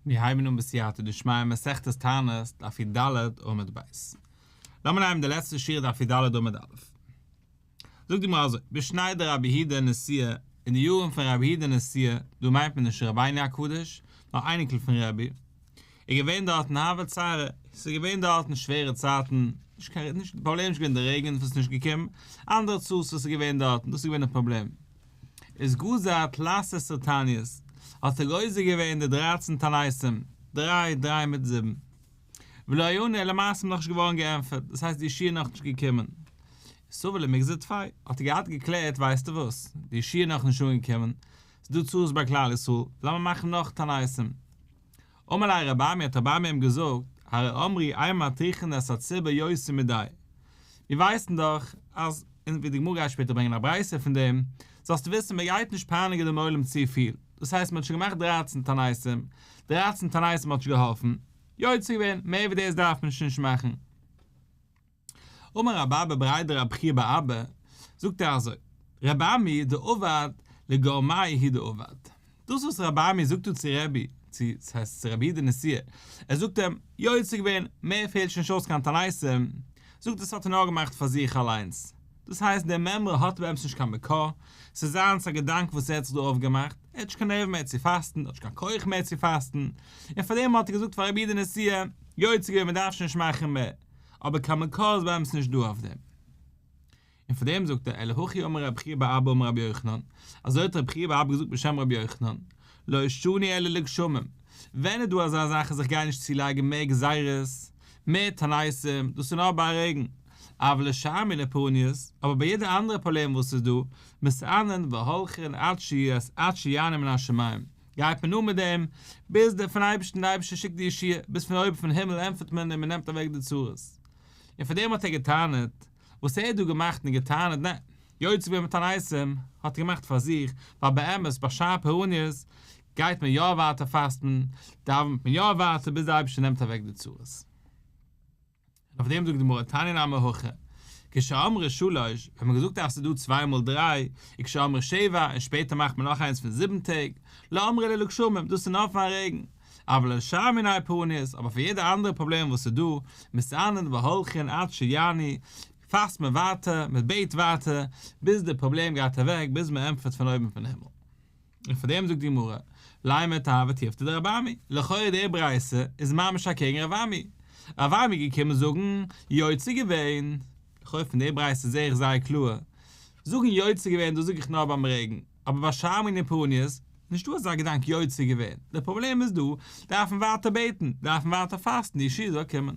מיר הייבן אן בסייעתא דשמיא מסכת תענית דף יד עמוד ב'. לאמיר נייען די לעצטע שורה דף יד עמוד א'. זאגט די גמרא אזוי, בשניי דרבי היד ע נשיא, אין די יארן פון רבי היד ע נשיא, דא מיינט מען נישט רבינו הקדוש, נאר אייניקל פון רבי, איז געווען דארטן הוה צרה, ס'איז געווען דארטן שווערע צייטן, נישט קיין, נישט, פראבלעם איז נישט געווען די רעגן וואס איז נישט געקומען, אנדערע צרות וואס איז געווען דארטן, דאס איז געווען די פראבלעם. איז גזר את לעשר סרטניות, האט ער גוזר געווען די דרייצן תעניתים, דריי, דריי מיט זיבן. ולא יענה אלא מעשה איז נאכנישט געווארן געענטפערט, דאס הייסט די שעה איז נאכנישט געקומען. סובה למגזר תפאי, האט ער געהאט געקלערט ווייסטו וואס, די שעה איז נאכנישט אנגעקומען, ס'איז דא צרות ביי כלל ישראל, לאמיר מאכן נאך תעניתים. אמר לה רבי עמי האט רבי עמי אים געזאגט, הרי אמרי אי מתיכין את הציבור יוצא מידי, מיר ווייסן דאך אז, און ווי די גמרא גייט שפעטער ברענגען א ברייתא פון דעם, זאלסטו וויסן מען גייט נישט פייניגען דעם עולם צופיל, דאס הייסט מען האט שוין געמאכט דרײַצן תעניתים, דרײַצן תעניתים האט נישט געהאלפן, יוצא געווען, מער ווי דאס דארף מען נישט נישט מאכן. אמר רבי אבא בר איידא רב חייא בר אבא, זאגט ער אזוי, רבי עמי דאובד לגורמאי הי' דאובד, דאס וואס רבי עמי זאגט דא צו רבי, צו, דאס הייסט צו רבי הי' די נסיעה, ער זאגט אים, יוצא געווען, מער פעלט שוין נישט אויס קיין תעניתים, זאגט דאס האט ער נאר געמאכט פאר זיך אליינס, דאס הייסט די מימרא האט באמת נישט קיין מקור, ס'איז זיינס א געדאנק וואס ער האט זיך דא אויפגעמאכט, ער האט נישט קיין נערוון מער צו פאסטן, ער האט נישט קיין כח מער צו פאסטן, און פארדעם האט ער געזאגט פאר רבי הי' די נסיעה, יוצא געווען מ'דארף שוין נישט מאכן מער, אבער קיין מקור איז באמת נישט דא אויף דעם. און פאר דעם זאגט ער, אלא הכי אמר רבי חייא בר אבא אמר רבי יוחנן, אזוי האט רבי חייא בר אבא געזאגט בשם רבי יוחנן, לא עישוני אלא לגשמים, ווען איז דא אזא זאך אז איך גיי נישט צולייגן מער גזירות, מער תנאיסים, דאס איז נאר ביי א רעגן, אבל לשאר מיני פורעניות, אבער ביי יעדע אנדערע פראבלעם וואס איז דא, מסענן והולכין עד שיענה מן השמים, גייט מען אן מיט דעם ביז דער פון אייבערשטן דער אייבערשטער שיקט די ישועה ביז פון אויבן פון הימל ענטפערט מען און מען נעמט אוועק די צרות און פון דעם האט ער געטענה'ט וואס ער האט דא געמאכט און געטענה'ט נע יוצא ווען מיט א נייעסם האט ער געמאכט פאר זיך ווייל באמת ביי שעה פרעניות גייט מען יא ווייטער פאסטן דאווענט מען יא ווייטער ביז דער אייבערשטער נעמט אוועק די צרות. און אויף דעם זאגט די גמרא, תנינא אמר הכא, כשאמרו שלש, ווען מ'האט געזאגט אז ס'דא צוויי מאל דריי, און כשאמרו שבע, און שפעטער מאכט מען נאך איינס פון זיבן טעג, לא אמרי אלא לגשמים, דאס איז נאר פאר'ן רעגן, אבל על שאר מיני פורעניות, אבער פאר יעדע אנדערע פראבלעם וואס איז דא, מסענין והולכין עד שיעני, פאסט מען ווייטער, מ'בעט ווייטער, ביז די פראבלעם גייט אוועק, ביז מ'ענטפערט פון אויבן פון הימל. און פאר דעם זאגט די גמרא, ליה מיתא ותיבתא דרבי עמי, לכאורה די ברייתא איז ממש אקעגן רבי עמי, רבי עמי איז געקומען זאגן יוצא געווען, לכאורה פון די ברייתא זעה איך זייער קלאר, זאגן יוצא געווען דאס זאג איך נאר ביים רעגן, אבער ביי שמים און פרניות נישטא אזא געדאנק יוצא געווען, די פראבלעם איז דא דארף מען ווייטער בעטן, דארף מען ווייטער פאסטן די ישועה זאל קומען.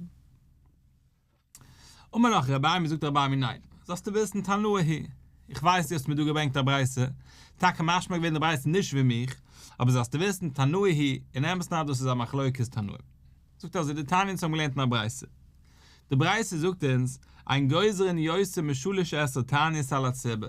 אמר לך רבי עמי, זאגט דער רבי עמי ניין, זאלסטו וויסן תנא הי', איך ווייס דו האסט מיר דא געברענגט א ברייתא, טאקע משמע געווען די ברייתא נישט ווי מיך, אבער זאלסטו וויסן תנא הי', און אמת ניי דאס איז א מחלוקת תנאים. זאגט אזוי די תניא אונז האבן געלערנט אין א ברייתא, די ברייתא זאגט אונז, אין גוזרין יוצא משלש עשר תענית על הציבור,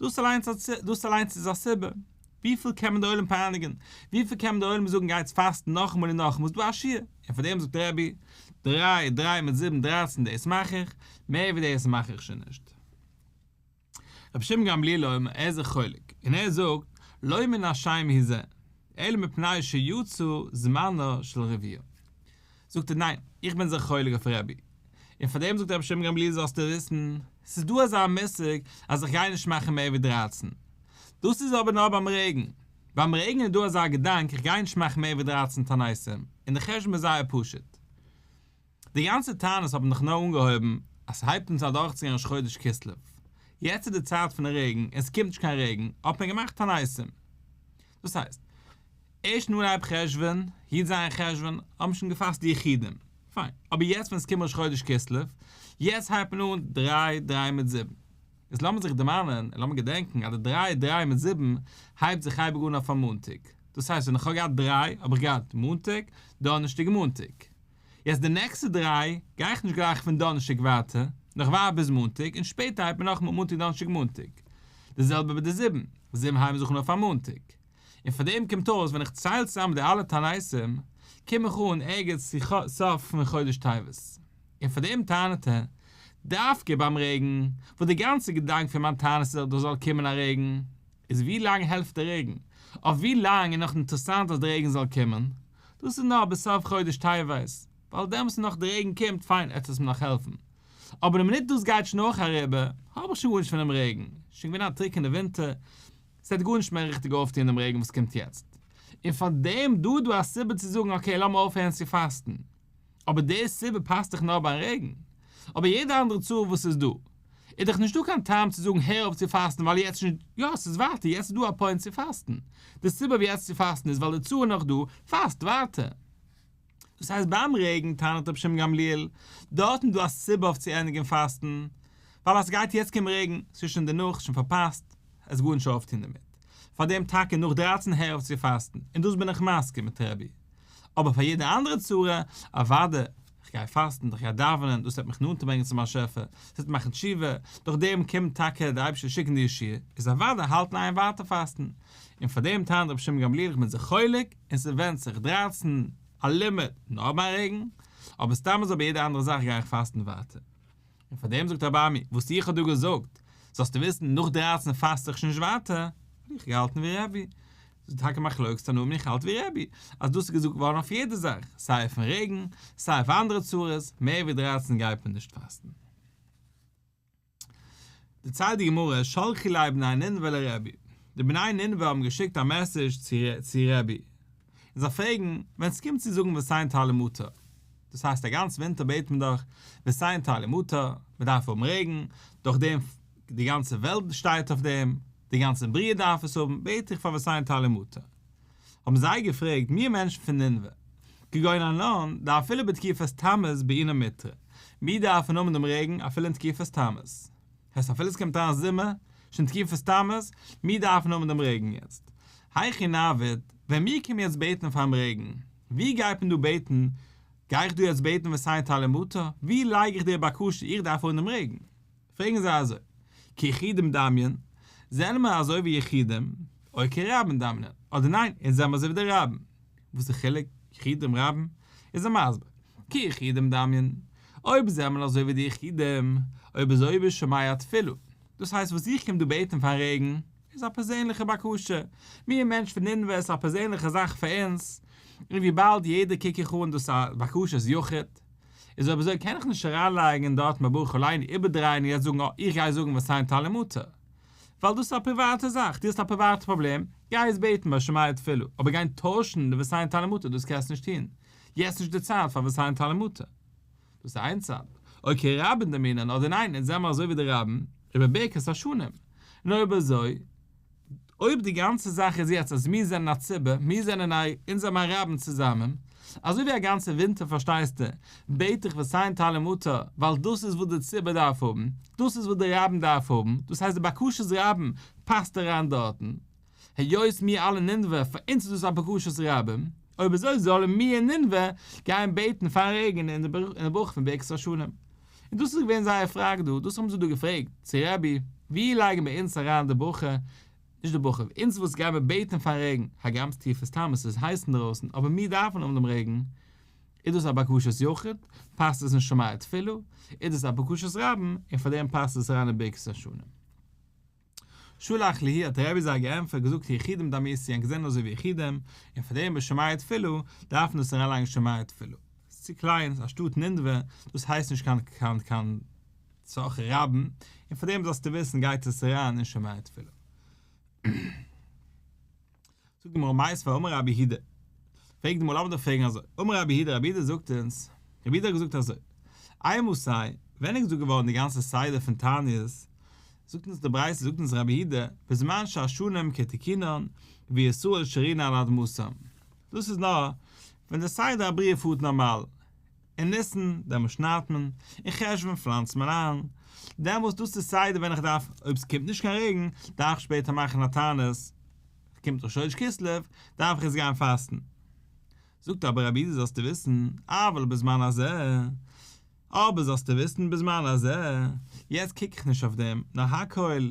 דאס אליינס א צ, דאס אליינס איז א סיבה. וויפיל קען מען די עולם פייניגען? וויפיל קען מען די עולם זאגן גייטס פאסטן נאכאמאל און נאכאמאל איז דא א שיעור? און פאר דעם זאגט דער רבי, דריי, דריי מיט זיבן, דרייצן, דאס מאך איך, מער ווי דאס מאך איך שוין נישט. רבי שמעון גמליאל אומר, ער איז זיך חולק, און ער זאגט, לא מן השמים היא זה, אלא מפני שיצא זמנו של רביו. זאגט ער, ניין, איך בין זיך חולק אויף רבי. און פאר דעם זאגט רבי שמעון גמליאל זאלסטו וויסן, ס'איז דא אזא מושג אז איך גיי נישט מאכן מער ווי דרײַצן. דאס איז אבער נאר ביים רעגן. ביים רעגן איז דא אזא געדאנק איך גיי נישט מאכן מער ווי דרײַצן תנאים, און די חשבון איז זייער פשוט. די גאנצע טענות האבן דאך נאר אנגעהויבן אז ס'הייבט אונז אדורכצוגיין ראש חודש כסלו. יעצט איז די צייט פון רעגן און ס'קומט נישט קיין רעגן, האט מען געמאכט תנאים. דאס הייסט, ערשט נאר אייב חשוון, י ז חשוון, האט מען שוין געפאסט די יחידים. פיין. אבער יעצט ווען עס קומט ראש חודש כסלו, יעצט הייבט מען אן דריי דריי מיט זיבן. יעצט לאמיר זיך דערמאנען, און לאמיר געדענקן, אז די דריי דריי מיט זיבן, הייבט זיך אייביג אן אויף א מאנטאג. דאס הייסט, ווען איך האב געהאט דריי, האב איך געהאט מאנטאג, דאנערשטאג און מאנטאג. יעצט די נעקסטע דריי גיי איך נישט גלייך פון דאנערשטאג ווייטער, נאך ווארט ביז מאנטאג און שפעטער הייבט מען נאכאמאל מאנטאג דאנערשטאג מאנטאג. די זעלבע ביי די זיבן, זיבן הייבן זיך אן אויף א מאנטאג. און פון דעם קומט אויס ווען איך צייל צוזאם די אלע תעניתים קום איך אן ערגעץ צו ח ס פון חודש טבת. און פון דעם טענה'ט ער דווקא ביים רעגן, וואס די גאנצע געדאנק פון מיין תענית איז אז דא זאל קומען א רעגן, איז ווי לאנג העלפט די רעגן? אויף ווי לאנג איז נאך אינטערעסאנט אז די רעגן זאל קומען? דאס איז נאר ביז סוף חודש טבת, ווייל דעמאלס איז נאך די רעגן קומט, פיין עטס וועסט מיר נאך העלפן, אבער די מינוט דאס גייט שוין אויך אריבער, האב איך שוין גארנישט פון דעם רעגן, שוין געווען א טרוקענע ווינטער, ס'וועט גארנישט מער ריכטיג אויפטון דעם רעגן וואס קומט יעצט, און פארדעם דא דא א סיבה צו זאגן אקעי לאמיר אויפהערן צו פאסטן, אבער די סיבה פאסט דאך נאר ביים רעגן, אבער יעדע אנדערע צרה וואס ס'איז דא איז דאך נישטא קיין טעם צו זאגן הער אויף צו פאסטן ווייל יעצט איז נישט יא ס'איז ווייטער יעצט איז דא א פוינט צו פאסטן די סיבה אויף יעצט צו פאסטן איז ווייל די צרה איז נאך דא פאסט ווייטער. דאס הייסט ביים רעגן טענה'ט רבי שמעון גמליאל דארט איז דא א סיבה אויף צו ענדיגן פאסטן ווייל אז ס'גייט יעצט קומען רעגן ס'איז שוין דערנאך שוין פארפאסט עס גארנישט אויפטון דערמיט פארדעם טאקע נאך דרײַצן הער אויף צו פאסטן און דאס בין איך מסכים מיט רבי אבער פאר יעדע אנדערע צרה, אוואדי, כ'גיי פאסטן, איך גיי דאווענען, דאס וועט מיך נאנטער ברענגען צום באשעפער, דאס וועט מאכן תשובה, דורך דעם קומט טאקע דער אייבערשטער שיקן די ישועה, איז אוודאי האלטן איין ווייטער פאסטן. און פאר דעם טענה'ט רבי שמעון גמליאל איך בין זיך חולק, און ס'ווענדט זיך, דרייצן, א לימוד, נאר ביי רעגן, אבער סתם אזוי ביי יעדע אנדערע זאך גיי איך פאסטן ווייטער. און פאר דעם זאגט אבאמי, וואס איך האב דא געזאגט, זאלסטו וויסן, נאך דרײַצן פאסט איך נישט ווייטער, האב איך געהאלטן ווי רעבי. ס'איז טאקע מחלוקת תנאים און איך האלט ווי רעבי, אז דאס איז געזאגט געווארן אויף יעדע זאך, סיי אויפן רעגן, סיי אויף אנדערע צרות, מער ווי דרײַצן גייט מען נישט פאסטן. דערציילט די גמרא, שלחי ליה בני נינווה לרעבי, די בני נינווה האבן געשיקט א מעסעדזש צו רעבי, און זיי פרעגן, ווען עס קומט צו זאגן ועשיינת האלי מותר, דאס הייסט א גאנץ ווינטער בעט מען דאך ועשיינת האלי מותר, מען דארף האבן רעגן, דורך דעם די גאנצע וועלט שטייט אויף דעם, די גאנצע בריאה דארף עס האבן, בעט איך פאר ועשיינת האלי מותר. האבן זיי געפרעגט, מיר מענטשן פון נינוה, כגון ארנון, די אפילו בתקופת תמוז בעינא מיתרא, מיר דארפן האבן דעם רעגן אפילו אין תקופת תמוז, הייסט אפילו עס קומט אריין זומער, שוין תקופת תמוז, מיר דארפן האבן דעם רעגן יעצט. היכי נעבוד, ווען מיר קומען יעצט בעטן פאר'ן רעגן, ווי גייט מען דא בעטן? גיי איך דא יעצט בעטן וסעים תעלה מטר? ווי לייג איך די בקשה איך דארף האבן דעם רעגן? פרעגן זיי אזוי, כיחידים דאמרין, זענען מיר אזוי ווי יחידים, או כרבים דאמרין, אדער ניין, אונז זענען מיר אזוי ווי די רבים. וואס איז חילוק יחידים רבים? איז ער מסביר, כי יחידים דאמיין, אויב זיי האבן אזוי ווי די יחידים, אויב איז אויב איז שמע א תפילה, דאס הייסט וואס איך קום דא בעטן פאר רעגן, איז א פערזענליכע בקשה, מיר מענטש פון נינוה איז א פערזענליכע זאך פאר אונז, און וויבאלד יעדער קוק איך אן דאס א בקשת יחיד, איז אויב אזוי קען איך נישט אריינלייגן דארט מברכו עלינו איבערדרייען און יעצט זאגן אה איך גיי זאגן וואס היינט תהלים מותר. ווייל דאס איז א פריוואטע זאך, דו האסט א פריוואטע פראבלעם, גיי עס בעטן ביי שמאי התפלה, אבער גיין טוישן די ווסאיין טאלעמוטע דאס קענסט נישט טון, יעצט נישט די צייט פאר ווסאיין טאלעמוטע. דאס איז איין צד. אויב קען רבין דערמאנען אדער ניין אונז זעמער אזוי ווי די רבין איבער ברכת השנים, און אויב אזוי, אויב די גאנצע זאך איז יעצט אז מיר זענען א ציבור, מיר זענען א, אונז האבן א רבין צוזאמען, אזוי ווי א גאנצע ווינטער פארשטייסטו, בעט איך וסיין טל ומטר, ווייל דאס איז וואס די ציבור דארף האבן, דאס איז וואס די רבים דארף האבן, דאס הייסט די בקשת רבים פאסט אריין דארטן, היות מיר אלע אין נינוה, פאר אונז איז דאס א בקשת רבים, אויב אזוי זאלן מיר אין נינוה גיין בעטן פארן רעגן אין די ברכה פון ברכת השנים. און דאס איז געווען זייער פראגע דא, דאס האבן זיי דא געפרעגט צו רבי, ווי לייגן מיר אונז אריין די ברכה נישט די בחור, אונז וואס גיי מיר בעטן פאר רעגן, הגרמ'ס טיעף איז סתם עס איז הייס אינדרויסן אבער מיר דארפן האבן דעם רעגן, איז דאס א בקשת יחיד, פאסט עס אין שמיה תפלה, איז דאס א בקשת רבים, און פאר דעם פאסט עס אריין אין ברכת השנים. שלח לי האט דער רבי זיי געענטפערט געזאגט היחידים דאמיר סיען געזען אויס ווי יחידים, און פאר דעם ביי שמיה תפלה דארף מען עס אריינלייגן שמיה תפלה, ס'איז צו קליין, אנשטאט נדבה, דאס הייסט נישט קיין קיין קיין. צח רבן, און פאר דעם זאלסטו וויסן גייט עס אריין אין שומרי תפילה. זאגט די גמרא מאי עשו אמר רבי הידא, פרעגט די גמרא לאמיר דאך פרעגן אזוי, אמר רבי הידא רבי הידא זאגט אונז, רבי הידא האט געזאגט אזוי, איי מוסאי, ווען איז געזאגט געווארן די גאנצע סדר פון תענית, זאגט אונז די ברייתא זאגט אונז רבי הידא, בזמן שהשנים כתיקינן וישראל שרינה על אדמתם, דאס איז נאר ווען די סדר הבריאה פארט נארמאל, אין ניסן, דעמאלט שניידט מען, אין חשוון פלאנצט מען איין, דעמאלט דאס איז סדר ווען איך דארף, אויב סקומט נישט קיין רעגן, דארף איך שפעטער מאכן א תענית, קומט ראש חודש כסלו, דארף איך עס גיין פאסטן. זאגט אבער רבי איד זאלסטו וויסן, אבל בזמן הזה, אבער זאלסטו וויסן בזמן הזה, יעצט קוק איך נישט אויף דעם, נאר הכל,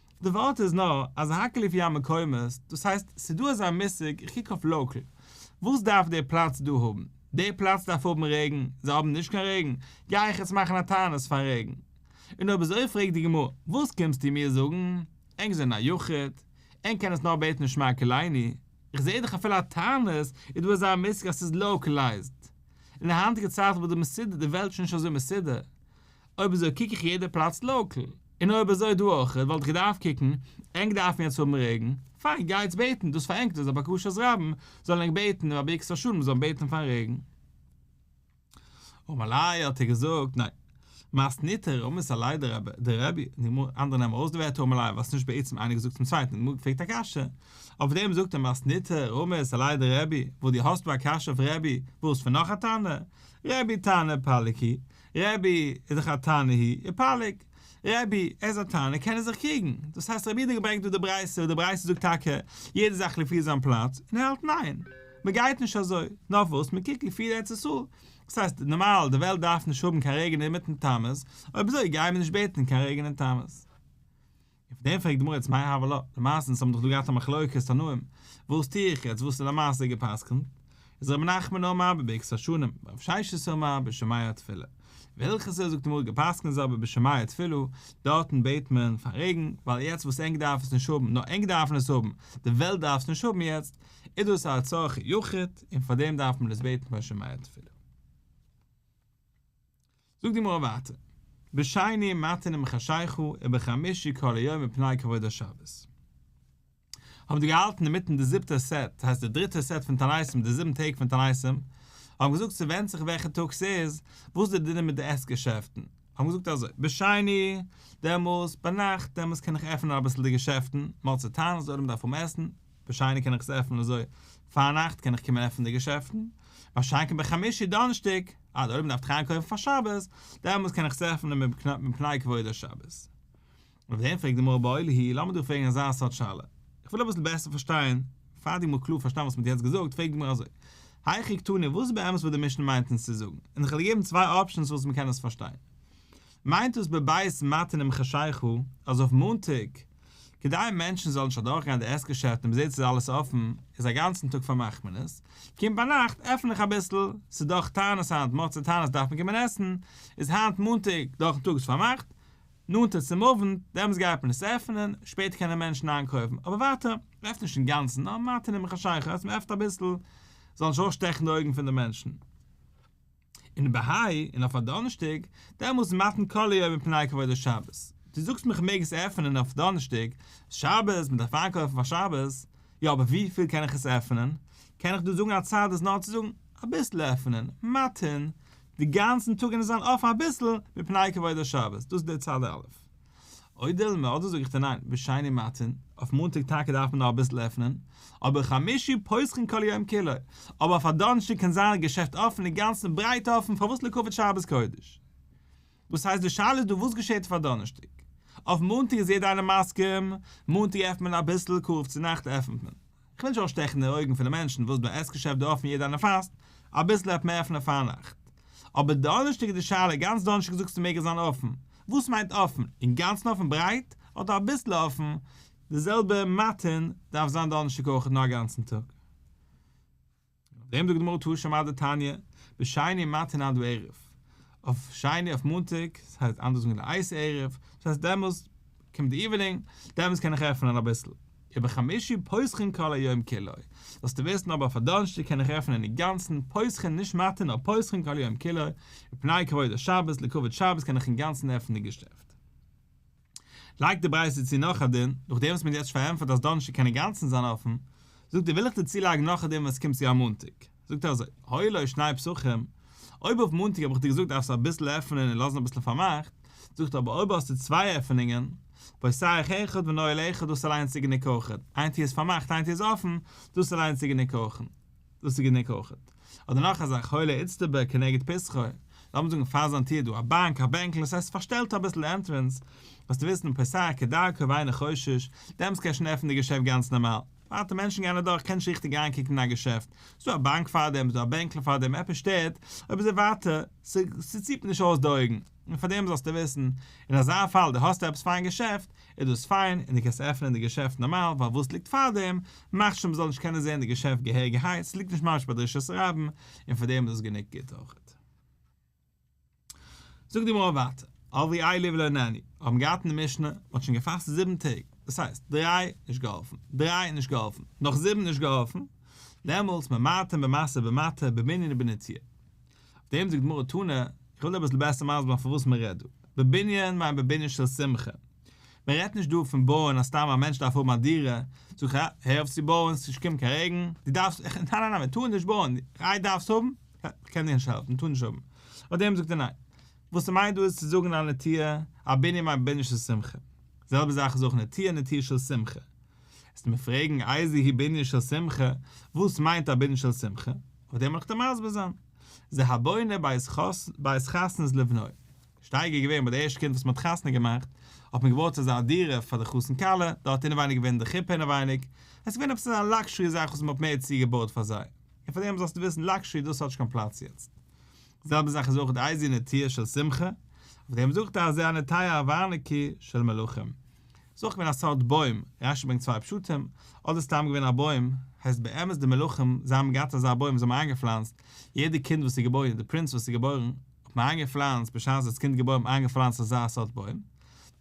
די ווארט איז נאר אז האקעלי פי א מקומות, דאס הייסט ס'איז דא אזא מושג, איך קוק אויף לאקעל, וואס דארף די פלאץ דא האבן? די פלאץ דארף האבן רעגן, זיי האבן נישט קיין רעגן, גיי איך יעצט מאכן א תענית פאר רעגן? און אויב אזוי פרעגט די גמרא, וואס קומסטו מיר זאגן? ענק זענען א יחיד, ענק קענען עס נאר בעטן און שמע כלעיני, איך זעה דאך אפילו א תענית איז דא אזא מושג אז ס'איז לאקעלייזד, און די היינטיגע צייט וואס די מסודר, די וועלט איז שוין נישט אזוי מסודר, אויב אזוי קוק איך יעדע פלאץ לאקעל, און אויב אזוי דא אויכעט וואלט איך געדארפט קוקן, ענק דארפן יעצט האבן רעגן, פיין גייטס בעטן דאס פאר ענק דאס איז א בקשת רבים, זאלן ענק בעטן רבי עקסטער שול מען זאל בעטן פארן רעגן. אמאליי האט ער געזאגט ניין. מאסט ניטער אמאס א ליידער רב די רבי די גמרא אנדערע נעמען ארויס די ווערטער אמאליי וואס נישט בעצם איינער געזאגט צום צווייטן די גמרא פרעגט א קשיא אויף דעם זאגט ער מאסט ניטער אמאס א ליידער רבי וואס די האסט דא א קשיא אויף רבי וואס פון נאך א תנא רבי תנא פליקי רבי איז דאך א תנא הי' און פליג. רבי, ער איז א תנא קען ער זיך קריגן. דאס הייסט רבי האט דיר געברענגט דא די ברייתא וואס די ברייתא זאגט טאקע יעדע זאך לפי זיין פלאץ און ער האלט ניין מ'גייט נישט אזוי נאר וואס מ'קוקט לפי ארץ ישראל. דאס הייסט נארמאל די וועלט דארף נישט האבן קיין רעגן אינמיטן תמוז אויב אזוי גייען מיר נישט בעטן קיין רעגן אין תמוז. אויף דעם פרעגט די גמרא איצט מאי הוה לה, למעשה אונז האבן דאך דא געהאט א מחלוקת תנאים, וואס טוה איך יעצט, וואס איז למעשה גע'פסק'נט? איז רבי נחמן אומר אבער בעקסא שנים, ורב ששת אומר בשמיא תפלה. וועלכע סה זאגט די גמרא גע'פסק'נט איז אבער בשמיא תפלה, דארטן בעט מען פאר רעגן, ווייל יעצט וואס ענק דארף עס נישט האבן, נאר ענק דארפן עס האבן, די וועלט דארף עס נישט האבן יעצט, איז דאס א צרכי יחיד, און פאר דעם דארף מען עס בעטן בשמיא תפלה. זאגט די גמרא ווייטער, בשני מתנים חשיכו ובחמישי כל היום מפני כבוד השבת. האבן די געהאלטן אינמיטן די זיבטע סעט, דאס הייסט די דריטע סעט פון תעניתים, די זיבן טעג פון תעניתים, האבן געזאגט ס'ווענדט זיך וועלכע טאג ס'איז, וואס די דינים מיט די עסט געשעפטן, האבן געזאגט אזוי, בשני, דעמאלס ביינאכט, דעמאלס קען איך עפענען אביסל די געשעפטן, מאלצעטאנעס, די עולם דארף האבן עסן, בשני קען איך עס עפענען אזוי פארנאכט קען איך קומען עפענען די געשעפטן, באשאנק און בחמישי דאנערשטאג, אדער אויב מ'דארף טרייען קויפן פאר שבת, דעמאלטס קען איך עס עפענען מפני כבוד השבת. אויף דעם פרעגט די גמרא באוהל הי', לאמיר דיר פרעגן אזא סארט שאלה, איך וויל אביסל בעסער פארשטיין, פאר די גמרא קלאר פארשטיין וואס מ'האט יעצט געזאגט, פרעגט די גמרא אזוי, היכי קטני וואס איז באמת וואס די משנה מיינט אונז צו זאגן, און איך וועל דיר געבן צוויי אפשענס וואס מ'קען עס פארשטיין. מיינט דאס בבית מתנים חשייך הוא, אז אויף מאנטאג, כדי מענטשן זאלן נישט אדורכגיין די עסט געשעפט און מ'זעט ס'איז אלעס אפן, איז א גאנצן טאג פארמאכט מען עס, קומט ביינאכט עפן איך אביסל, ס'איז דאך תענית היינט, מח צו תענית דארף מען קומען עסן, איז היינט מאנטאג דורכן טאג איז פארמאכט, נאנטער צום אוונט, דעמאלטס גייט מען עס עפענען, שפעטער קענען מענטשן איינקויפן, אבער ווייטער, מ'עפנט נישט אינגאנצן, נאר ווייטער נעם איך א שייכות, מ'עפנט אביסל, זאלן נישט אויסשטעכן די אויגן פון די מענטשן. און ב ה און אויף א דאנערשטאג דעמאלטס מתן כלה יום מפני כבוד השבת, דו זאגסט מיר כ'מעג עס עפענען אויף דאנערשטאג, ס'איז שבת, מ'דארף איינקויפן פאר שבת, יא אבער וויפיל קען איך עס עפענען? קען איך דא זאגן א צד איז נאר צו זאגן אביסל עפענען, מתן די גאנצן טאג און עס זיין אפן אביסל מפני כבוד השבת, דאס איז די צד א'. אודאי מ אדער זאג איך דיר ניין, בשני מתן, אויף מאנטאג טאקע דארף מען נאך אביסל עפענען, אבער חמישי פותחין כל יום כולו, אבער אויף א דאנערשטאג קען זיין א געשעפט אפען אינגאנצן ברייט אפען פארוואס לעכבוד שבת קודש? דאס הייסט די שאלה איז דא וואס געשעט אויף א דאנערשטאג? אויף מאנטאג איז יעדער איינער מסכים, מאנטאג עפענט מען אביסל, קרוב צו נאכט עפענט מען. כ'וויל נישט אויסשטעכן די אויגן פון די מענטשן וואס דא עסט כשר די אופן יעדער אנער פאסט אביסל האט מער פון א פארנאכט אבער דאנערשטאג איז די שאלה גאנץ דאנערשטאג זאגסטו מעג עס זיין אפן וואס מיינט אפן אינגאנצן אפן ברייט אדער אביסל אפן די זעלבע מאטין דארף זיין דאנערשטאג אויכעט נאר אגאנצן טאג. דעם זאגט די גמרא טור שמא דתניא, בשני מתן עד ערב, אויף שני אויף מאנטאג, דאס הייסט אנדערש זאגן לעיס ערב, דאס הייסט דעמאלסט קומט די איווענינג, דעמאלסט קען איך עפענען אביסל, ובחמישי פוסחין כל היום כולו, זאלסטו וויסן אבער אויף א דאנערשטאג קען איך עפענען אינגאנצן פוסחין נישט מתן נאר פוסחין כל היום כולו, מפני כבוד השבת, לכבוד שבת קען איך אינגאנצן עפענען די געשעפט. לייגט די ברייתא צו נאך א דין, נאכדעם וואס מען האט יעצט פארענטפערט אז דאנערשטאג קען אינגאנצן זיין אפן, זאגט ער וויל איך דיר צולייגן נאך א דין ווען עס קומט צו א מאנטאג, זאגט ער אזוי, היו לו שני פסחים, אויב אויף מאנטאג האב איך דיר געזאגט דארפסטו אביסל עפענען און לאזן אביסל פארמאכט, זאגט ער אבער אויב האסטו צוויי עפענונגען, פותח אחד ונועל אחד דאס איז אליינס די גענוג הוכחה, איין טיר איז פארמאכט איין טיר איז אפן, דאס איז אליינס די גענוג הוכחה. דאס איז גענוג אויכעט. אדער נאך א זאך, הוי לאיצטבא כנגד פסחא, לאמיר זאגן פאר זיין טיר דא א באנק, א בענקל, עס הייסט פארשטעלט אביסל די ענטרענס, וועסטו וויסן פסח כדרכו ואינו חושש, דעמאלס קען ער שוין עפענען די געשעפט גאנץ נארמאל. ווייטער מענטשן גייען אדורך קען נישט ריכטיג אריינקוקן אין א געשעפט, ס'איז דא א באנק פאר דעם, ס'איז דא א בענקל פאר דעם, עפעס שטערט אויב איז ער ווייטער, ס'ציפט נישט אויס די אויגן. און פאר דעם זאלסטו וויסן, אין אזא פאל דו האסט עפעס פאר אין געשעפט, איז דאס פיין, און דו קענסט עפענען די געשעפט נארמאל, ווייל וואס ליגט פאר דעם, מאכט שוין מ'זאל נישט קענען זען די געשעפט געהעריגערהייט, ס'ליגט נישט ממש ביי דרישת רבן, און פאר דעם איז דאס גענוג גוט אויך. זאגט די גמרא ווייטער, אבי איילי ולא ענני, האבן געהאט אין די משנה, מ'האט שוין געפאסט זיבן טעג, דאס הייסט, דריי, נישט געהאלפן, דריי, נישט געהאלפן, נאך זיבן, נישט געהאלפן, דעמאלטס, ממעטין במעשר במעטה, במנין ובנטיעה. אויף דעם זאגט די גמרא תנא, איך וויל דיר אביסל בעסער מסביר זיין פון וואס מען רעדט דא, בבנין מיינט בבנין של שמחה, מען רעדט נישט דא פון בויען אז סתם א מענטש דארף האבן א דירה, זאג איך אה, הער אויף צו בויען, ס'נישט געקומען קיין רעגן, דו דארפסט, איך, ניין ניין ניין מען טאר נישט בויען, איי דארפסט האבן, כ'קען דיר נישט העלפן, מען טאר נישט האבן, אויף דעם זאגט ער ניין, וואס ער מיינט דא איז צו זאגן א נטיעה, א בנין מיינט בנין של שמחה, די זעלבע זאך איז אויך נטיעה נטיעה של שמחה. וועסטו מיר פרעגן איזה היא בנין של שמחה, וואס מיינט א בנין של שמחה? אויף דעם וויל איך דיר מסביר זיין. זה הבונה בית חתנות לבנו. שטייגער איז געווען ביי די ערשטע קינד וואס מען האט חתונה געמאכט, האט מען געבויט אזא דירה פאר די חתן כלה, דארט האט אינעווייניג געווען די חופה אינעווייניג, עס איז געווען עפעס אזא לאקשערי זאך וואס מען האט מער צוגעבויט פאר זיי. און פאר דעם זאלסטו וויסן לאקשערי דאס האט נישט קיין פלאץ יעצט. זעלבע זאך איז אויך די איזי נטיה של שמחה, אויף דעם זאגט אז זה הנטיה הווארניקי של מלכים. ס'איז אויך געווען א סארט בוים, רש י ברענגט צוויי פשטים, אדער סתם געווען א בוים, הייסט באמת די מלכים זיי האבן געהאט אזא בוים וואס זיי האבן איינגעפלאנצט, יעדע קינד וואס איז געבוירן, די פרינץ וואס איז געבוירן, האט מען איינגעפלאנצט, בשעת דאס קינד איז געבוירן האט מען איינגעפלאנצט אזא סארט בוים,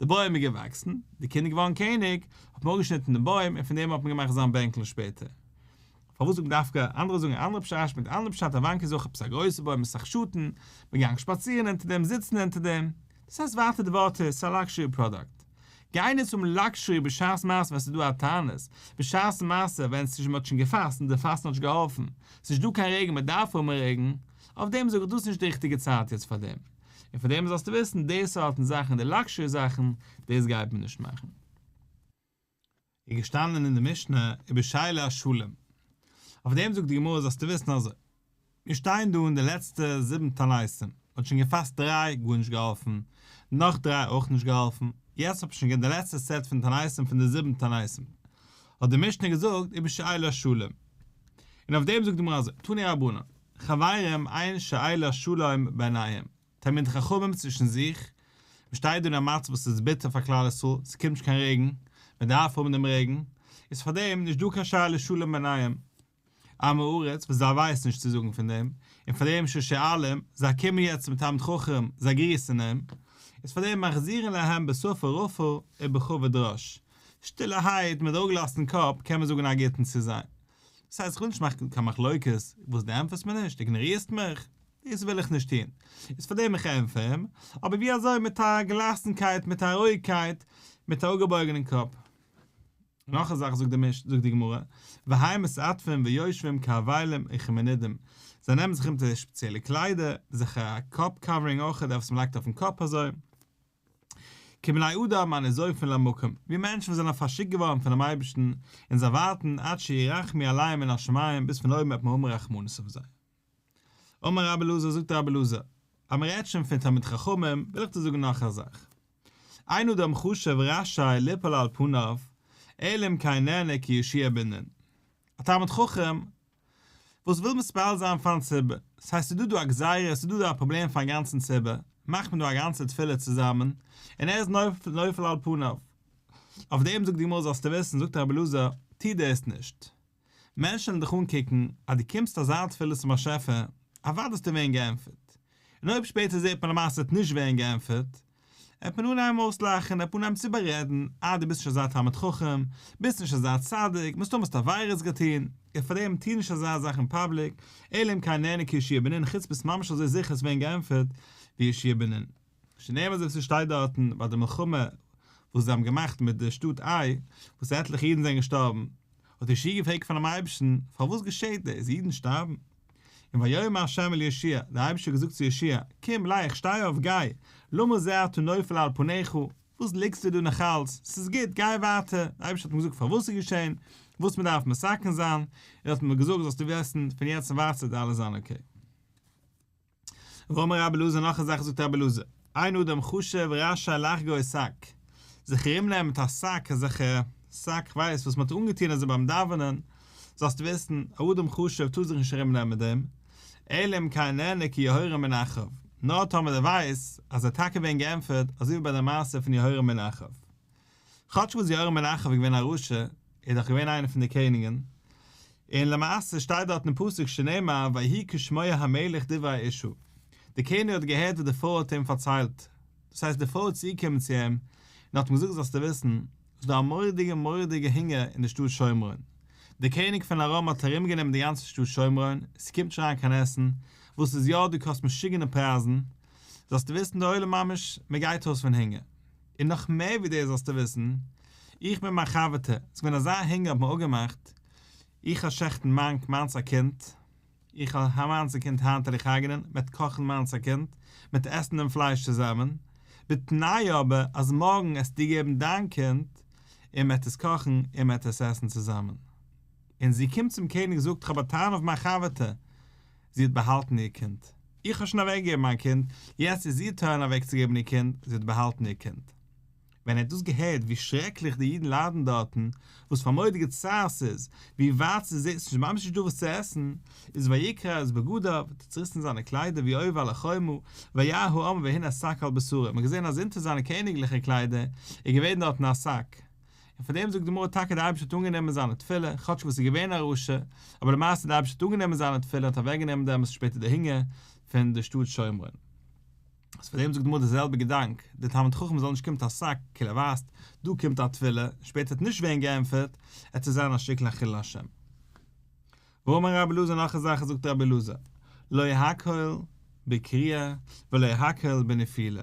די בוים איז געוואקסן, די קינד איז געווארן קעניג, האט מען אפגעשניטן דעם בוים און פון דעם האט מען געמאכט זיין בענקל שפעטער. פארוואס זאגן דווקא, אנדערע זאגן א אנדערע פשש מיט א אנדערע פשט, א באנק איז אויך עפעס א גרויסע בוים מיט סאך שאטן, מען גאנג שפאצירן אונטער דעם, זיצן אונטער דעם, דאס הייסט ווייטער די ווארט איז ס'א לאקשערי פראדאקט. גיי נוץ האבן לאקשערי בשעת מעשה ווען ס'איז דא א תענית, בשעת מעשה ווען ס'איז שוין מ'האט שוין געפאסט און די פאסטן האט נישט געהאלפן, ס'איז נישט דא קיין רעגן מ'דארף האבן רעגן, אויף דעם זאג איך דאס איז נישט די ריכטיגע צייט יעצט פאר דעם. און פאר דעם זאלסטו וויסן די סארטן זאכן די לאקשערי זאכן דאס גייט מען נישט מאכן. איז געשטאנען אין די משנה איבער שילי השלים, אויף דעם זאגט די גמרא זאלסטו וויסן אזוי, מיר שטייען דא און די לעצטע זיבן תעניתים האט שוין געפאסט דריי גארנישט געהאלפן, נאך דריי אויך נישט געהאלפן, יעצט האט מען שוין געהערט די לעצטע סעט פון תעניתים פון די זיבן תעניתים, האט די משנה געזאגט איבער שילי השלים, און אויף דעם זאגט די גמרא אזוי, תני רבנן, חברים אין שילי השלים בעיניהם, תלמידי חכמים צווישן זיך, מען שטייט דא אין א מצב וואס איז ביטער פאר כלל ישראל, ס'קומט נישט קיין רעגן, מען דארף האבן דעם רעגן, איז פאר דעם נישט דא קיין שאלה שלום ביניהם, עמי ארץ, וואס זיי ווייסן נישט צו זאגן פון דעם, און פאר דעם ששואלים, זיי קומען יעצט צום תלמיד חכם, זיי גריסן אים, איז פאר דעם מחזירין להם בשפה רפה ובכובד ראש, שטילערהייט מיט אראפגעלאזטן קאפ קען מען זאגן א גוטן צו זיי. דאס הייסט איך וויל נישט מאכן קיין מחלוקת, וואס דו ענטפערסט מיר נישט, איגנארירסט מיך? דאס וויל איך נישט טון, איז פאר דעם איך ענטפער אים, אבער ווי אזוי, מיט א געלאסנקייט, מיט א רואיגקייט, מיט א אפגעבויגענעם קאפ. נאך א זאך זאגט די גמרא, והי' מסתעטפין ויושבין כאבלים וכמנידים, זיי נעמען זיך אונטער שפעציעלע קליידער, זיך א קאפ קאווערינג אויך, דער וואס מען לייגט אויפן קאפ אזוי, כבני אדם הנזופין למקום, ווי מענטשן וואס זענען פארשיקט געווארן פונעם אייבערשטן, און זיי ווארטן עד שירחם עליהם מן השמים, ביז פון אויבן וועט מען האבן רחמנות אויף זיי. אמר רבי אלעזר זאגט רבי אלעזר, אז מען רעדט שוין פון תלמיד חכמים, וויל איך דיר זאגן נאך א זאך, אין אדם חשוב רשאי ליפול על פניו, אלא אם כן נהנה כי ישיע בנין. א תלמיד חכם וואס וויל מתפלל זיין פארן ציבור, ס'הייסט ס'איז דא דא א גזירה, ס'איז דא דא א פראבלעם פארן גאנצן ציבור, מאכט מען דא א גאנצע תפילה צוזאמען, און ער איז נופל על פניו. אויף דעם זאגט די גמרא זאלסטו וויסן, זאגט רבי אלעזר, טו דאס נישט. מענטשן וועלן דיך אנקוקן אז דו קומסט אזא תפילה צום באשעפער, אוודאי וועסטו ווערן געענטפערט. און אויב שפעטער זעט מען למעשה עס נישט ווערן געענטפערט, עט מען אנהייבן אויסלאכן, עט מען אנהייבן צו איבעררעדן, אה דו ביסט נישט אזא תלמיד חכם, ביסט נישט אזא צדיק, מסתמא האסטו עבירות געטון, און פארדעם טוה נישט אזא זאך אין פאבליק, אלא אם כן נהנה כישיבה בנין, חוץ ביסט ממש אזוי זיכער עס ווערן געענטפערט ווי ישיבה בנין. שנער וואס עס שטייט דארטן ביי די מלחמה וואס זיי האבן געמאכט מיט די שטאט איי וואס עטליכע אידן זענען געשטארבן, האט ישעי' געפרעגט פונעם אייבערשטן, פארוואס געשעהט דאס, אידן שטארבן? און ויאמר ה' אל ישעי', דער אייבערשטער האט געזאגט צו ישעי', קום, לייך, שטיי אויף, גיי, למה זה אתה נופל על פניך, וואס ליגסטו דא נאכאלץ, עס איז גוט, גיי ווייטער, דער אייבערשטער האט מיר געזאגט פארוואס עס איז געשעהן, וואס מען דארף מסכן זיין, ער האט מיר געזאגט זאלסטו וויסן, פון יעצט און ווייטער וועט אלעס זיין אקעי. ואמר רבי אלעזר נאך א זאך זאגט רבי אלעזר אין אדם חשב רשאי לחגור א שק זיך ארום נעמען מיט א שק אזעלכע שק כ'ווייס וואס מ'האט אנגעטון אזוי ביים דאווענען זאלסטו וויסן א אדם חשב טאר זיך נישט ארום נעמען מיט דעם אלא אם כן נענה כי יהורא מן אחאב נאר טאמער ער ווייסט אז ער האט טאקע ווען געענטפערט אזוי ווי ביי די מעשה פון יהורא מן אחאב כאטש וואס יורם בן אחב איז געווען א רשע, איז דאך געווען איינער פון די קעניגען, און למעשה שטייט דארט אין פסוק שנאמר ויהי כשמוע המלך דברי האישה, די קעניג האט געהערט וואס די פרוי האט אים פארציילט, דאס הייסט די פרוי איז צוגעקומען צו אים און האט אים געזאגט זאלסטו וויסן, ס'איז דא א מורא'דיגע מורא'דיגע הונגער אין די שטאט שומרון, די קעניג פון ארם האט ארום גענומען די גאנצע שטאט שומרון, ס'קומט נישט אריין קיין עסן, וואס איז יא דא קאסט משוגענע פרייזן, זאלסטו וויסן די עולם ממש מ'גייט אויס פון הונגער. און נאך מער ווי דאס זאלסטו וויסן, איך מיט מיין חבר'טע, עס איז געווען אזא הונגער האט מען אפגעמאכט, איך א שעכטן מאנק מיינס א קינד, איך א מיינס א קינד היינט וועל איך הרג'נען, מען האט קאכן מיינס א קינד, מען האט עסן דעם פלייש צוזאמען, בתנאי אבער אז מארגן עסטו געבן דיין קינד, און מען העט עס קאכן און מען העט עס עסן צוזאמען. און זי קומט צום קעניג זאגט איך האב א טענה אויף מיין חבר'טע, זי האט באהאלטן איר קינד. איך האב שוין אוועקגעגעבן מיין קינד, יעצט איז איר טורן אוועקצוגעבן איר קינד, זי האט באהאלטן איר קינד. ווען ער האט דאס געהערט, ווי שרעקליך די אידן ליידן דארטן, וואס פאר מורא'דיגע צער ס'איז, ווי ווייט ס'איז זיי, ס'איז ממש נישט דא וואס צו עסן, איז ויקרע את בגדיו, האט ער צוריסן זיינע קליידער ווי אויב על חומו, וירא העם והנה שק על בשרו, מ'האט געזען אז אונטער זיינע קעניגליכע קליידער איז געווען דארטן א שק, און פאר דעם זאגט די גמרא טאקע די אייבערשטער האט אנגענומען זיינע תפילה, כאטש וואס עס איז געווען א רשע, אבער למעשה די אייבערשטער האט אנגענומען זיינע תפילה און האט אוועק גענומען דעמאלס שפעטער די הונגער פון די שטאט שומרון. אז פאר דעם זאגט די גמרא די זעלבע געדאנק, די תלמיד חכם זאל נישט קומט א שק, כאילו ער ווייסט דא קומט א תפילה, און שפעטער האט נישט ווערן געענטפערט, ער טוט זיין א שטיקל א חילול השם. ואמר רבי אלעזר נאך אזאלכע זאגט רבי אלעזר, לא יקהל בקריעה ולא יקהל בנפילה.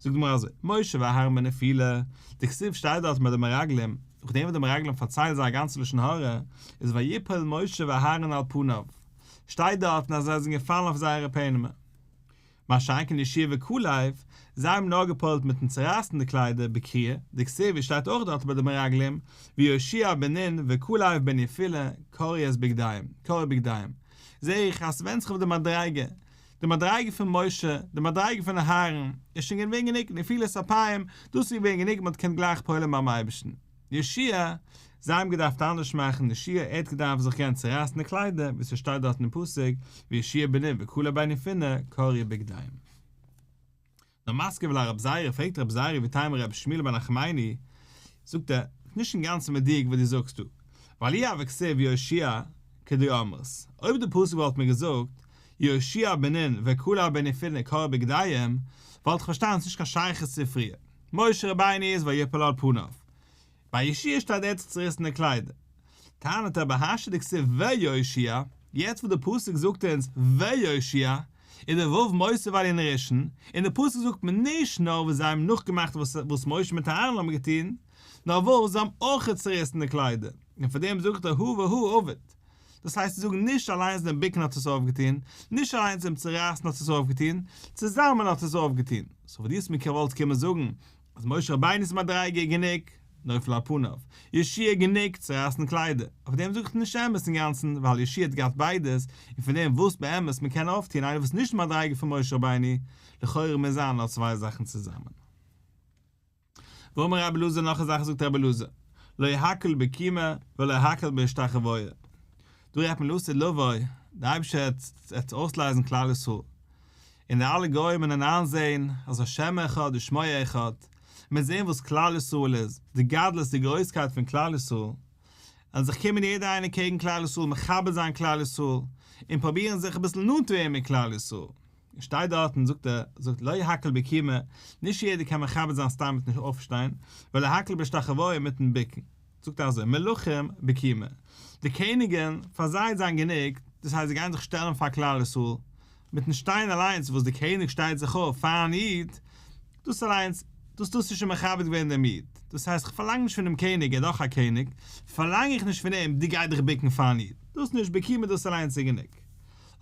זאגט די גמרא אזוי, משה ואהרן בנפילה, די כתובה שטייט דארט מיט די מרגלים, נאך דעם וואס די מרגלים פארציילן זייער גאנצע לשון הרע, איז ויפל משה ואהרן על פניו, שטייט דארט אז זיי זענען געפאלן אויף זייערע פענעמער. מה שאין כן ישעי' וכלב, זיי האבן נאר געפועלט מיטן צורייסן די קליידער בקריעה, די כתובה שטייט אויך דארט מיט די מרגלים, ויושע בן נון וכלב בנפילה קרע את בגדיהם, קרע בגדיהם, זעה איך אז ס'ווענדט זיך אויף די מדריגה, די מדריגה פון משה, די מדריגה פון אהרן, איז שוין געווען גענוג נפילת אפיים, דאס איז געווען גענוג מען האט געקענט גלייך פועל'ן ביים אייבערשטן. ישעי', זיי האבן געדארפט אנדערש מאכן, ישעי' ער האט געדארפט זיך געבן צורייסן די קליידער, ווי ס'שטייט דארט אין פסוק, וישעי' בניו וכלו בניו פינע, קרעו בגדיהם. דער מזכיר ולא רב זייערע פרעגט רב זייערע ווי טיימער רבי שמואל בן נחמיני, זאגט ער, ס'איז נישט אינגאנצן מדויק וואס דו זאגסט דא, ווייל אי ה וכסיב יהושע כדו אמרת, אויב די פסוק וואלט מיר געזאגט יהושע בן נון וכלא בן יפונה כרעו בגדיהם וואלט איך פארשטאנען ס'איז נישט קיין שייכות צו פריער, משה רבינו איז ויפול על פניו, ביי יאָשיע שטייט דער צעריסענער קליידער. טענה'ט ער בהשי ת כסוף ויושיע, יעצט וואס דער פסוק זאגט אונז ויושיע, איז דער ו' מוסיף עליה נ'ראשון, און דער פסוק זאגט מיר נישט נאר וואס זיי האבן נאכגעמאכט וואס משה מיט אהרן האבן געטון, נאר וואס זיי האבן אויך צעריסענע קליידער, און פאר דעם זאגט ער הוה הוא אבד. דאס הייסט צו זאגן נישט אליינס דעם ביקן האט עס אויפגעטון, נישט אליינס דעם צערייסן האט עס אויפגעטון, צוזאמען האט עס אויפגעטון. סאו וואס דו האסט מיר כעוואלט קומען זאגן, איז משה רבינו'ס מדריגה גענוג, נופל על פניו, ישעי' גענוג, צורייסן קליידער, אויף דעם זאגסטו נישט אמת אינגאנצן, ווייל ישעי' האט געהאט ביידעס, און פון דעם וואס באמת מען קען אויפטון איינער וואס איז נישט מדריגה פון משה רבינו, לכאורה מוז זיין נאר צוויי זאכן צוזאמען. ואמר רבי אלעזר נאך א זאך זאגט רבי אלעזר, לא יהקל בקימה ולא יהקל בהשתחוויה, דא רעדט מען לעשה לבוי, דער אייבערשטער וועט אויסלייזן כלל ישראל, און די אלע גוים וועלן איינזעהן אז השם אחד ושמו אחד, און ווען זעהן וואס כלל ישראל איז, די גדלות די גרויסקייט פון כלל ישראל, וועלן זיך קומען יעדער איינער קעגן כלל ישראל מכבד זיין כלל ישראל, און פראבירן זיך אביסל נאנט צו ווערן מיט כלל ישראל, און שטייט דארט און זאגט ער זאגט לא יהקל בקימה, נישט יעדער קען מכבד זיין סתם מיטן אויפשטיין, ולא יהקל בהשתחוויה מיטן בוקן. זאָגט אַז אין מלכים בקימה, די קעניגן, פֿאַר זײ איז זײַן גענוג, דאָס הײסט, זײ גײען זיך שטעלן פֿאַר כּלל-ישׂראל, מיטן שטײן אַלײנס, װאָס דער קעניג שטײט זיך אױף פֿאַרן ייִד, דאָס אַלײנס, דאָס, דאָס איז שױן מכבד געװען דעם ייִד. דאָס הײסט, איך פֿאַרלאַנג נישט פֿונעם קעניג, ער איז דאָך אַ קעניג, פֿאַרלאַנג איך נישט פֿון אים, דו גײ דיך בוקן פֿאַרן ייִד, דאָס נישט בקימה, דאָס אַלײנס איז גענוג.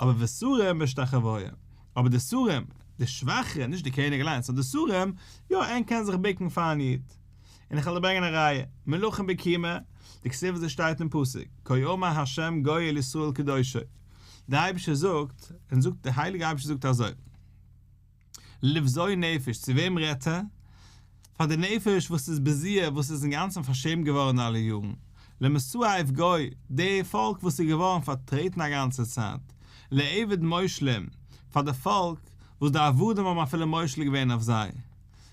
אָבער ושׂרים בשתּחװיה, אָבער די שׂרים, די שװאַכערע, נישט דער קעניג אַלײנס, נאָר די שׂרים, יאָ, ער קען זיך בוקן פֿאַרן ייִד. און איך וועל דיר ברענגען א ראיה, מלכים בקימה, די כתובה וואס עס שטייט אין פסוק, כה אמר ה' גואל ישראל קדושו, דער אייבערשטער זאגט, און זאגט, דער הייליגער אייבערשטער זאגט אזוי, לבזוי נפש, צו וועם רעדט ער? פאר די נפש וואס איז בזיעה, וואס איז אינגאנצן פארשעמט געווארן אלע יארן, למסואב גוי, די פאלק וואס איז געווארן פארטרעטן א גאנצע צייט, לעבד מושלים, פאר די פאלק וואס די עבדים האבן אפילו מושל געווען אויף זיי,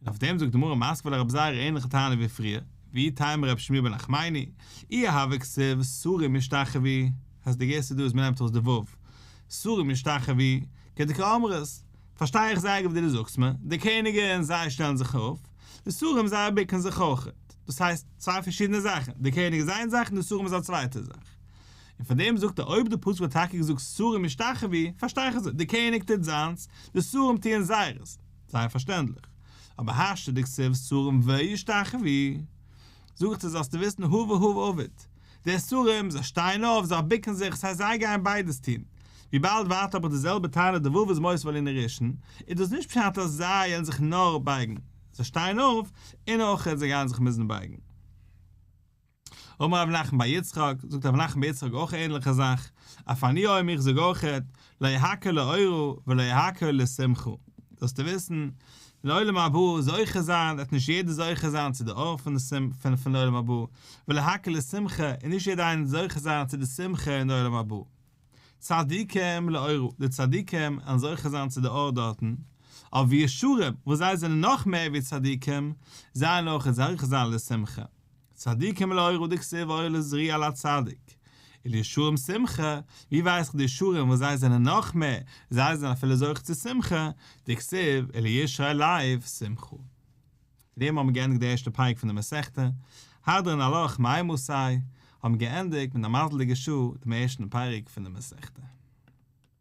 און אויף דעם זאגט די מרא מאסקווע לרב זייער א ענליכע טענה ווי פריער, ואי טעמא רבי שמואל בן נחמני, אי אהבה כסו' סורים ישתחווי, אז די גרסה דא איז מנעמט ארויס די ו', סורים ישתחווי, כדקא אמרת, פארשטיי איך זייער גוט ווי דו זאגסט מיר, די קעניגען זיי שטעלן זיך אויף, די סורים זיי ביקן זיך אויך, דאס הייסט צוויי פארשידענע זאכן, די קעניג איז איין זאך און די סורים איז א צווייטע זאך. און פון דעם זאגט ער אויב די פסוק האט טאקע געזאגט סורים ישתחווי, פארשטיי איך אזוי, די קעניג טוט זיינס, די סורים טוען זייערס, זייער פארשטענדליך. אבער השתא דכסוף סרים וישתחווי, זאגט ער זאלסטו וויסן הא והא עביד. די סרים, זיי שטייען אויף, זיי בוקן זיך, ס'הייסט זיי גייען ביידעס טון. וויבאלד ווארט אבער די זעלבע טענה די וואוו איז מוסיף על אין רישן, איז דאס נישט פשט אז זיי וועלן זיך נאר בייגן, זיי שטייען אויף, און אויך זיי גייען זיך מוזן בייגן. אמר רבי נחמן בר יצחק, זאגט רבי נחמן בר יצחק אויך א ענליכע זאך, אף אני אוהם איך זאג אויכעט, לא יהקה לאורו ולא יהקה לשמחו, זאלסטו וויסן, לעולם הבא זוכה זיין וועט נישט יעדער זוכה זיין צו די אור פון עולם הבא, ולהקה לשמחה און נישט יעדער איינער זוכה זיין צו די שמחה אין עולם הבא. צדיקים לאורו, די צדיקים וועלן זוכה זיין צו די אור דארטן, אויף ווי ישרים, וואס זיי זענען נאך מער ווי צדיקים, זיי וועלן אויך זוכה זיין לשמחה. צדיקים לאורו דכסיב אור לזריע לצדיק, ולישרים שמחה, ווי ווייס איך די ישרים וואס זיי זענען נאך מער, זיי זענען אפילו זוכה צו שמחה, דכסיב ולישרי לב שמחו. מיט דעם האבן מיר געענדיגט די ערשטע פרק פון די מסכתא, הדרן הלוך מאי מסי, האבן מיר געענדיגט מיט א מזל'דיגע שעה דעם ערשטן פרק פון די מסכתא.